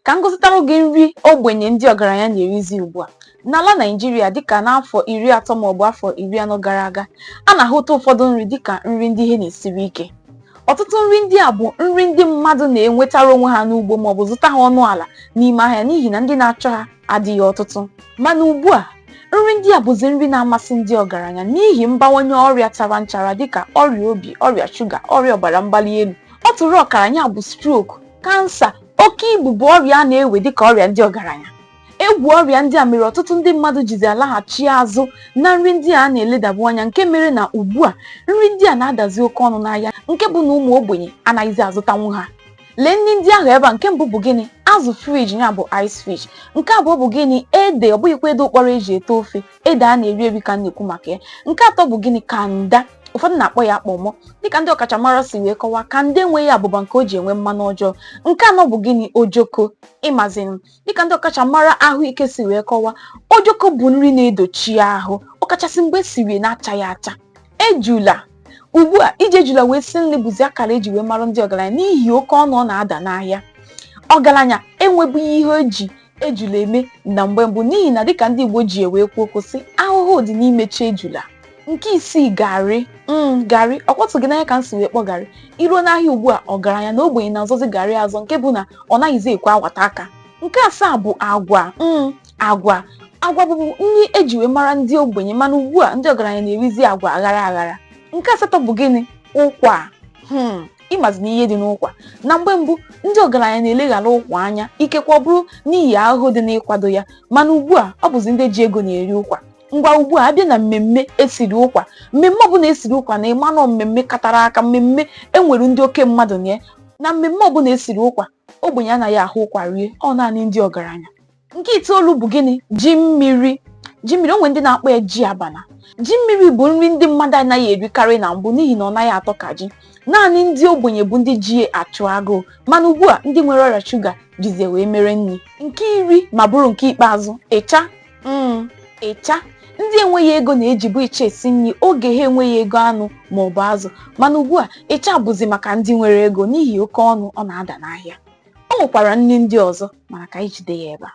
ka m gụsịtara gị nri ogbenye ndị ọgaranya na-erizi ugbu a n'ala naijiria dịka n'afọ iri atọ maọbụ afọ iri anọ gara aga a na-ahụta ụfọdụ nri dịka nri ndị ihe na-esiri ike ọtụtụ nri ndị a bụ nri ndị mmadụ na-enwetara onwe ha n'ugbo maọbụ zụta ha ọnụ ala n'ime ahịa n'ihi na ndị na-achọ ha adịghị ọtụtụ mana ugbu a nri ndị a bụzi nri na-amasị ndị ọgaranya n'ihi mbawanye ọrịa tara nchara dịka ọrịa obi ọrịa shuga ọrịa ọbara mgbali elu ọtụrụ ọkara ya bụ stroke kansa oke ibu bụ ọrịa a na-ewe dịka ọrịa ndị ọgaranya egwu ọrịa ndị a mere ọtụtụ ndị mmadụ jizi alaghachi azụ na nri ndị a na-eledabu anya nke mere na ugbu a nri ndị a na-adazi oke ọnụ n'ahịa nke bụ na ụmụ ogbenye anaghịzi azụtanwu ha lee nri ndị ahụ ebe a nke mbụ bụ gịnị azụ friji ya bụ ice fish nke abụọ bụ gịnị ede ọ bụghịkwa ede ụkpọrọ eji ete ofe ede a na-eri eri ka a na-ekwu maka ya nke atọ bụ gịnị kanda ụfọdụ na-akpọ ya kpọmọ dịka ndị ọkachamara si wee kọwaa kanda enweghị abụba nke o ji enwe mmanụ ọjọọ nke anọ bụ gịnị ojoko ịmazi na dịka ndị ọkachamara ahụike si wee kọwaa ojoko bụ nri na-edochi ahụ ọkachasị mgbe esiri n'achaghị acha ejula ugbu a iji ejula wee si nri bụzi akara eji wee mara ndị ọgaranya n'ihi oke ọnụ ọ na-ada n'ahịa ọgaranya enwebughị ihe o ji ejula eme na mgbe mbụ n'ihi na dịka ndị Igbo ji wee kwuo okwu sị ahụhụ dị n'imechi ejula nke isii garị mm garị ọ kpọtụ gị n'anya ka m si wee kpọ garị i ruo n'ahịa ugbu a ọgaranya na ogbenye na-azọzi garị azọ nke bụ na ọ naghịzi ekwe awata aka nke asaa bụ agwa mm agwa agwa bụbu nri eji wee mara ndị ogbenye mana ugbu a ndị ọgaranya na-erizi agwa aghara aghara nke asatọ bụ gịnị ụkwa hmm ịmazi na ihe dị n'ụkwa na mgbe mbụ ndị ọgaranya na-eleghara ụkwa anya ikekwe ọ bụrụ n'ihi ahụhụ dị n'ịkwado ya mana ugbu a ọ bụzi ndị ji ego na-eri ụkwa ngwa ugbu a abịa na mmemme esiri ụkwa mmemme ọbụla esiri ụkwa na ịmanụ mmemme katara aka mmemme enwere ndị oke mmadụ na ya na mmemme ọbụla esiri ụkwa ogbenye anaghị ahụ ụkwa rie ọ naanị ndị ọgaranya nke itoolu bụ gịnị ji mmiri ji mmiri o nwe ndị na-akpọ ya ji abana ji mmiri bụ nri ndị mmadụ anaghị erikarị na mbụ n'ihi na ọ naghị atọ ka ji naanị ndị ogbenye bụ ndị ji ya achụ agụụ mana ugbu a ndị nwere ọrịa shuga jizi ya wee mere nri nke iri ma bụrụ nke ikpeazụ ịcha mm, ịcha ndị enweghị ego na-ejibu ịcha esi nri oge ha enweghị ego anụ ma ọ bụ azụ mana ugbu a ịcha bụzi maka ndị nwere ego n'ihi oke ọnụ ọ na-ada n'ahịa o nwekwara nri ndị ọzọ mana ka anyị jide ya ebe a